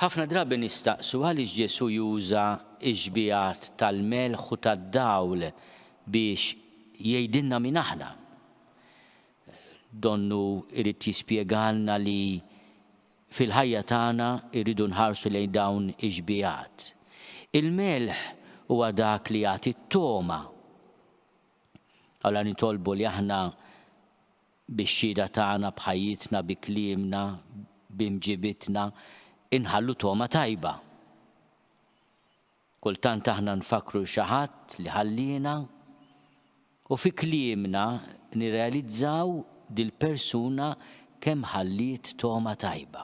Ħafna drabi nistaqsu għaliex Ġesù juża x-xbiehat tal-melħ u tad-dawl biex jgħidilna min aħna. Donnu jrid jispjegalna li fil-ħajja tagħna rridu nħarsu lejn dawn ix-xbiehat. Il-melħ huwa dak li jagħti t-togħma. Allura nitolbu li aħna Bix-xhieda tagħna, b'ħajjitna, bi kliemna, b'imġiebitna, inħallu togħma tajba. Kultant aħna nfakkru 'l xi ħadd li ħalliena, u fi kliemna nirrealizzaw dil-persuna kemm ħalliet togħma tajba.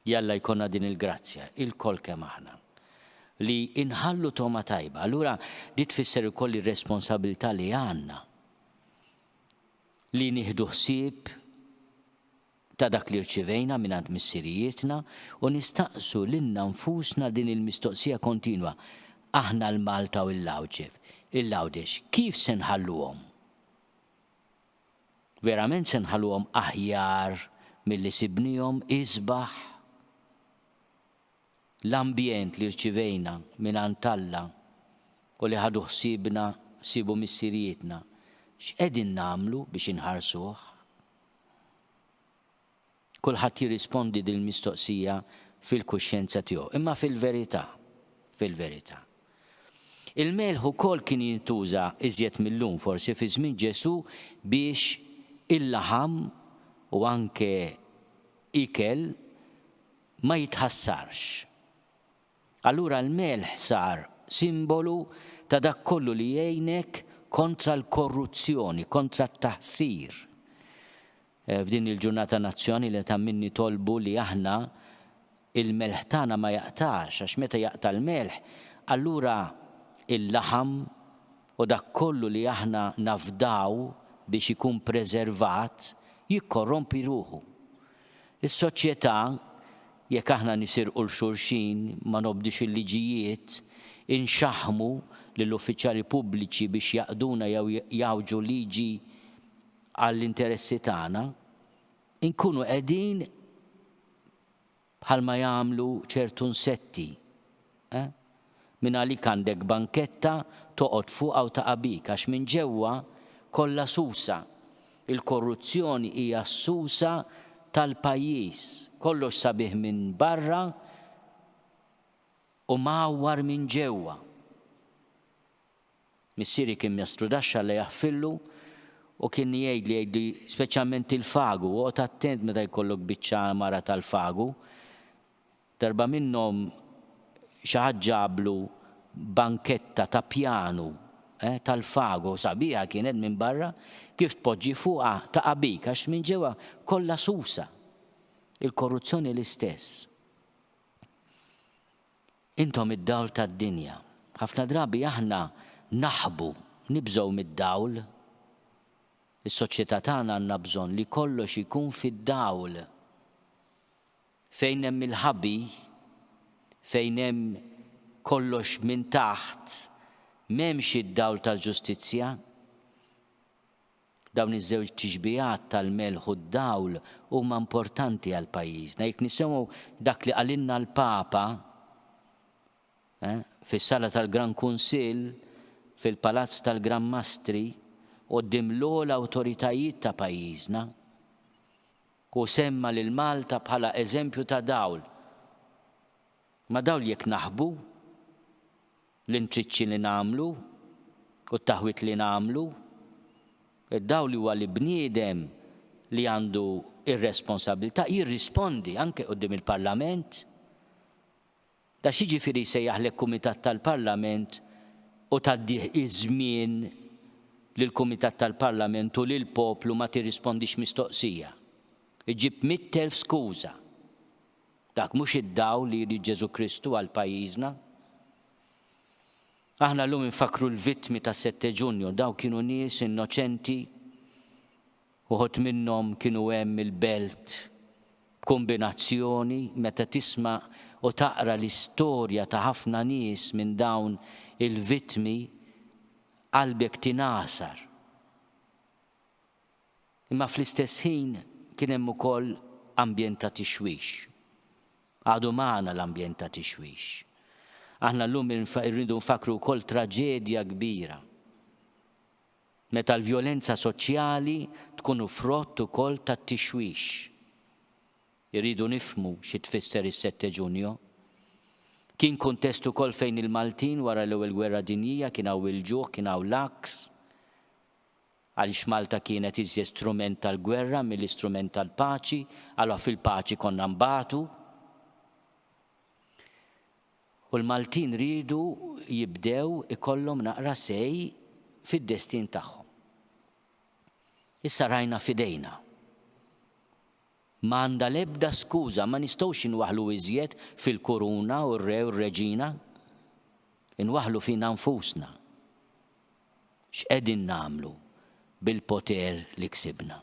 Jalla jkollna din il-grazzja, ilkoll kemm aħna, li inħallu togħma tajba. Allura di tfisser ukoll ir-responsabilità li għandna li nieħdu ħsieb ta' dak li rċivejna mingħand missirijietna u nistaqsu lilna nfusna din il-mistoqsija kontinwa, aħna l-Malta u l-Għawdxef, il-Għawdex, kif se nħalluhom? Verament se nħalluhom aħjar milli sibniehom isbaħ? L-ambjent li rċivejna mingħand Alla u li ħadu ħsiebna sibu missirijietna, x'qegħdin nagħmlu biex inħarsuh? Kulħadd jirrispondi dil-mistoqsija fil-kuxjenza tiegħu. Imma fil-verità, fil-verità, il-melħ ukoll kien jintuża iżjed mil-lum forsi fi żmien Ġesù biex il-laħam u anke ikel ma jitħassarx. Allura l-melħ sar simbolu ta' dak kollu li jgħinek kontra l-korruzzjoni, kontra t-taħsir. F'din il-Ġurnata Nazzjonali li ta' min nitolbu li aħna il-melħ tagħna ma jaqtax għax meta jaqta' l-melħ allura il-laħam u dak kollu li aħna nafdaw biex ikun preservat jikkorrompi ruħu. Is-soċjetà jekk aħna nisirqu 'l xulxin, ma nobdux il-liġijiet, inxaħħmu lill-uffiċjali pubbliċi biex jaqduna jew jgħawġu liġi għall-interessi tagħna, inkunu qegħdin bħalma jagħmlu ċertu nsetti, eh? Mingħalik għandek banketta toqgħod fuqha u taqa' bik għax minn ġewwa kollha susa. Il-korruzzjoni hija s-susa tal-pajjiż. Kollox sabiħ minn barra u mgħawwar minn ġewwa. Missieri kien mestru daxx Alla jaħfirlu u kien jgħidli jgħidli speċjalment il-fagu oqgħod attent meta jkollok biċċa għamara tal-fagu. Darba minnhom xi ħadd ġablu banketta ta' pjanu eh tal-fagu sabiħa kienet minn barra kif tpoġġi fuqha taqa' bik għax minn ġewwa kollha susa. Il-korruzzjoni l-istess. Intom id-dawl tad-dinja. Ħafna drabi aħna naħbu, nibżgħu mid-dawl. Is-soċjetà tagħna għandna bżonn li kollox ikun fid-dawl. Fejn hemm il-ħabi, fejn hemm kollox minn taħt, m'hemmx id-dawl tal-ġustizzja. Dawn iż-żewġ tixbihat tal-melħ u d-dawl huma importanti għal pajjiżna. Jekk nisimgħu dak li qalilna l-Papa fis-Sala tal-Gran Kunsill fil-Palazz tal-Gran Mastri quddiem l-ogħla awtoritajiet ta' pajjiżna, hu semma lil Malta bħala eżempju ta' dawl. Ma' dawl jekk naħbu? L-intriċċi li nagħmlu u t-taħwit li nagħmlu, id-dawl li huwa li bniedem li għandu r-responsabbiltà jirrispondi anke quddiem il-Parlament. Da x'jiġifieri jsejjaħlek Kumitat tal-Parlament u tgħaddih iż-żmien li l-Kumitat tal-Parlament u lill-poplu ma tirrispondix mistoqsija? Iġġib mitt elf skuża. Dak mhux id-dawl li jrid Ġesù Kristu għal pajjiżna? Aħna llum infakkru l-vittmi tas-Sette Ġunju, dawn kienu nies innoċenti, uħud minnhom kienu hemm il-belt b'kumbinazzjoni meta tisma' u taqra l-istorja ta' ħafna nies minn dawn il-vittmi qalbek tingħasar. Imma fl-istess ħin kien hemm ukoll ambjent ta' tixwix. Għadu magħna l-ambjent ta' tixwix. Aħna llum irridu nfakkru wkoll traġedja kbira. Meta l-vjolenza soċjali tkunu frott ukoll tat-tixwix. Irridu nifhmu xi tfisser is-Sette Ġunjo. Kien kuntest ukoll fejn il-Maltin wara l-Ewwel Gwerra Dinjija kien hawn il-ġuħ, kien hawn l-għaks. Għaliex Malta kienet iżjed strument tal-gwerra milli strument tal-paċi, għala fil-paċi konna nbatu. U l-Maltin riedu jibdew ikollhom naqra say fid-destin tagħhom. Issa rajna f'idejna. Ma għandha l-ebda skuża, ma nistgħux inwaħħlu iżjed fil-kuruna u r-re u r-reġina. Inwaħħlu fina nfusna. X'qegħdin nagħmlu bil-poter li ksibna?